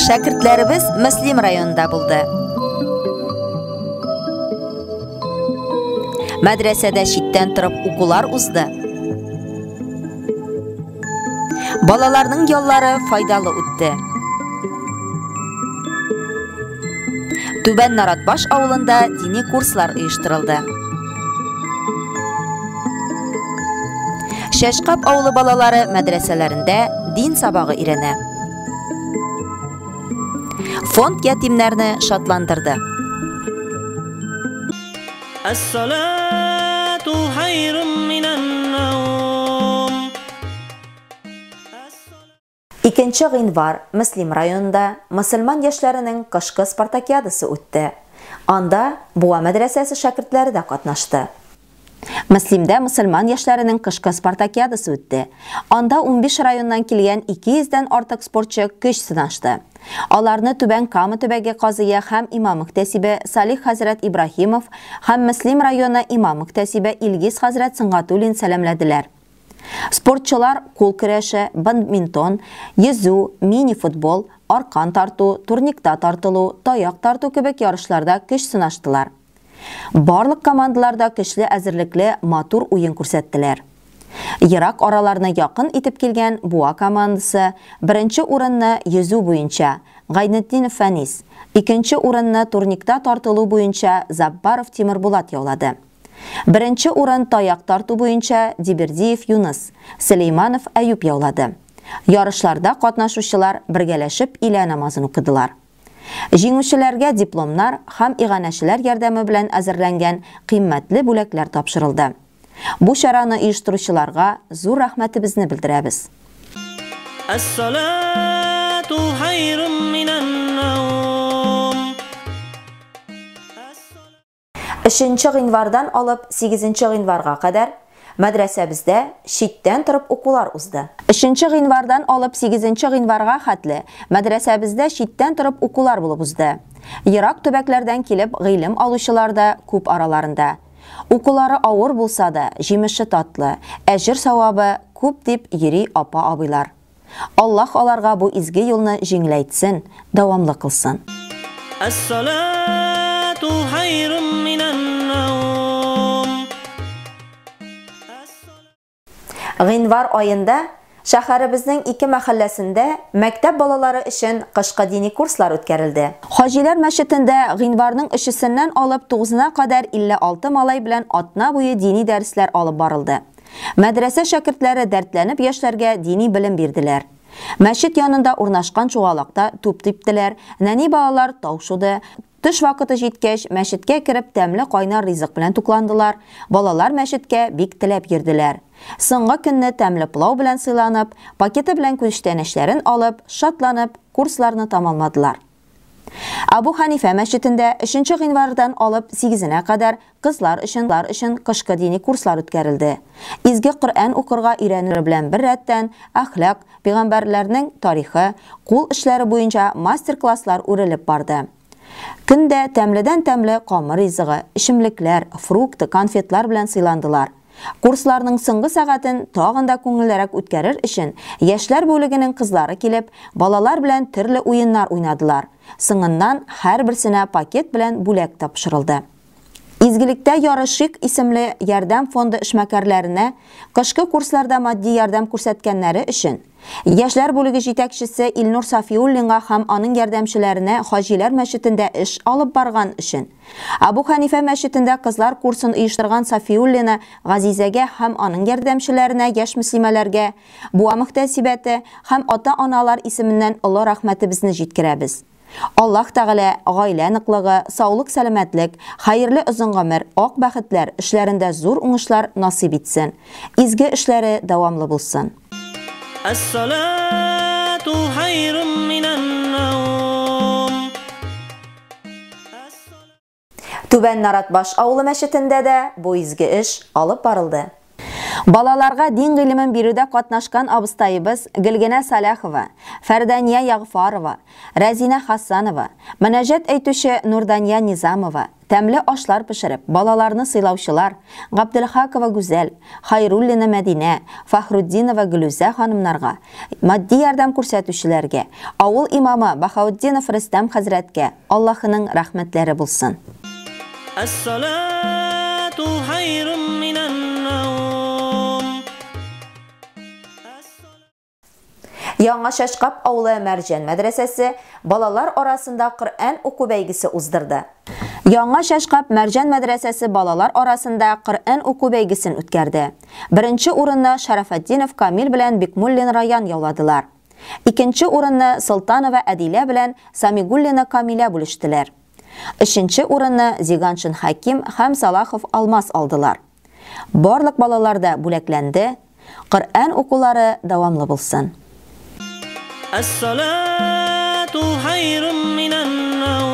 Шәкертләребез Мөслим районында булды. Мәдрәсәдә читтән торып укулар узды. Балаларның яллары файдалы үтте. Түбән Наратбаш авылында дини курслар оештырылды. Шәшкап авылы балалары мәдрәсәләрендә дин сабагы өйрәнә. Фонд ятимнәрне шатландырды. Әссалату хайрым Икенче гыйнвар Мөслим районында мөселман яшьләренең кышкы спартакиадасы үтте. Анда Буа мәдрәсәсе шәкертләре дә катнашты. Мөслимдә мөселман яшьләренең кышкы спартакиадасы үтте. Анда унбиш районнан килгән 200 дән артык спортчы көч сынашты. Аларны Түбән Кама төбәге казые һәм имам-мөхтәсибе Салих хәзрәт Ибраһимов һәм Мөслим районы имам-мөхтәсибе Илгиз хәзрәт Сөнгатуллин сәламләделәр. Спортчылар кул көрәше, бадминтон, йөзү, мини-футбол, аркан тарту, турникта тартылу, таяк тарту кебек ярышларда көч сынаштылар. Барлык командалар да көчле әзерлекле матур уен күрсәттеләр. Ерак араларны якын итеп килгән Буа командасы беренче урынны йөзү буенча, Гайнетдинов Фәнис, икенче урынны турникта тартылу буенча Заббаров Тимербулат яулады. Беренче урын таяк тарту буенча Дибердиев Юныс, Сөләйманов Әюп яулады. Ярышларда катнашучылар бергәләшеп илә намазын укыдылар. Җиңүчеләргә дипломнар һәм иганәчеләр ярдәме белән әзерләнгән кыйммәтле бүләкләр тапшырылды. Бу чараны оештыручыларга зур рәхмәтебезне белдерәбез. Әс-салату хайрун минән-наум. Өченче гыйнвардан алып сигезенче гыйнварга кадәр мәдрәсәбездә читтән торып укулар узды. Өченче гыйнвардан алып сигезенче гыйнварга хәтле мәдрәсәбездә читтән торып укулар булып узды. Ерак төбәкләрдән килеп гыйлем алучылар да күп араларында. Укулары авыр булса да, җимеше татлы, әҗер-савабы күп дип йөри апа-абыйлар. Аллаһ аларга бу изге юлны җиңеләйтсен, дәвамлы кылсын. Әссалату хайрум минән-наум. Гыйнвар аенда шәһәребезнең ике мәхәлләсендә мәктәп балалары өчен кышкы дини курслар үткәрелде. Хаҗиләр мәчетендә гыйнварның өчесеннән алып тугызына кадәр 56 малай белән атна буе дини дәресләр алып барылды. Мәдрәсә шәкертләре дәртләнеп яшьләргә дини белем бирделәр. Мәчет янында урнашкан чуалакта туп типтеләр, нәни балалар тау шуды. Төш вакыты җиткәч, мәчеткә кереп тәмле кайнар ризык белән тукландылар. Балалар мәчеткә бик теләп йөрделәр. Соңгы көнне тәмле плау белән сыйланып, пакеты белән күчтәнәчләрен алып, шатланып, курсларны тамамладылар. Абу Ханифә мәчетендә өченче гыйнвардан алып сигезенә кадәр кызлар өчен лар өчен кышкы дини курслар үткәрелде. Изге Коръән укырга өйрәнүләр белән беррәттән, әхлак, пәйгамбәрләрнең тарихы, кул эшләре буенча мастер-класслар үрелеп барды. Көн дә тәмледән-тәмле камыр ризыгы, эчемлекләр, фрукты, конфетлар белән сыйландылар. Курсларның соңгы сәгатен тагын да күңеллерәк үткәрер өчен, яшьләр бүлегенең кызлары килеп, балалар белән төрле уеннар уйнадылар. Соңыннан һәрберсенә пакет белән бүләк тапшырылды. Изгелектә ярышыйк исемле ярдәм фонды эшмәкәрләренә кышкы курсларда матди ярдәм күрсәткәннәре өчен, Яшьләр бүлеге җитәкчесе Илнур Сафиуллинга һәм аның ярдәмчеләренә Хаҗиләр мәчетендә эш алып барган өчен, Абу Хәнифә мәчетендә кызлар курсын оештырган Сафиуллина Газизәгә һәм аның ярдәмчеләренә яшь мөслимәләргә Буа мөхтәсибәте һәм ата-аналар исеменнән олы рәхмәтебезне җиткерәбез. Аллаһ Тәгалә гаилә ныклыгы, саулык-сәламәтлек, хәерле озын гомер, ак бәхетләр, эшләрендә зур уңышлар насыйп итсен. Изге эшләре дәвамлы булсын. Әссалату хайрум минәннаум. Түбән Наратбаш авылы мәчетендә дә бу изге эш алып барылды. Балаларга дин гыйлемен бирүдә катнашкан абыстаебыз Гөлгенә Саляхова, Фәрдания Ягъфарова, Рәзинә Хасанова, мөнәҗәт әйтүче Нурдания Низамова, тәмле ашлар пешереп, балаларны сыйлаучылар, Габделхакова Гүзәл, Хайруллина Мәдинә, Фахрутдинова Гөлүзә ханымнарга, матди ярдәм күрсәтүчеләргә, авыл имамы Баһаутдинов Рөстәм хәзрәткә, Аллаһының рәхмәтләре булсын. Әссалату хайрун минән наум. Яңа Шәшкап авылы Мәрҗән мәдрәсәсе балалар арасында Коръән уку бәйгесе уздырды. Яңа Шәшкап Мәрҗән мәдрәсәсе балалар арасында Коръән уку бәйгесен үткәрде. Беренче урынны Шәрәфәтдинов Камил белән Бикмуллин Раян яуладылар. Икенче урынны Солтанова Әдилә белән Самигуллина Камилә бүлештеләр. Өченче урынны Зиганшин Хәким һәм Салахов Алмаз алдылар. Барлык балалар да бүләкләнде. Коръән укулары дәвамлы булсын. Әссалату хайрум минән наум.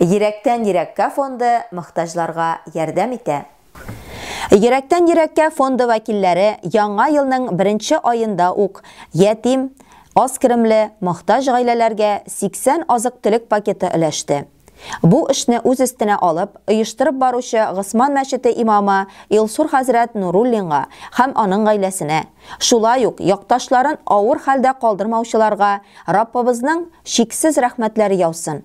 Йөрәктән йөрәккә фонды мохтаҗларга ярдәм итә. Йөрәктән йөрәккә фонды вәкилләре яңа елның беренче аенда ук ятим, аз керемле, мохтаҗ гаиләләргә 80 азык-төлек пакеты өләште. Бу эшне үз өстенә алып, оештырып баручы Госман мәчете имамы Илсур хәзрәт Нуруллинга һәм аның гаиләсенә, шулай ук якташларын авыр хәлдә калдырмаучыларга Раббыбызның чиксез рәхмәтләре яусын!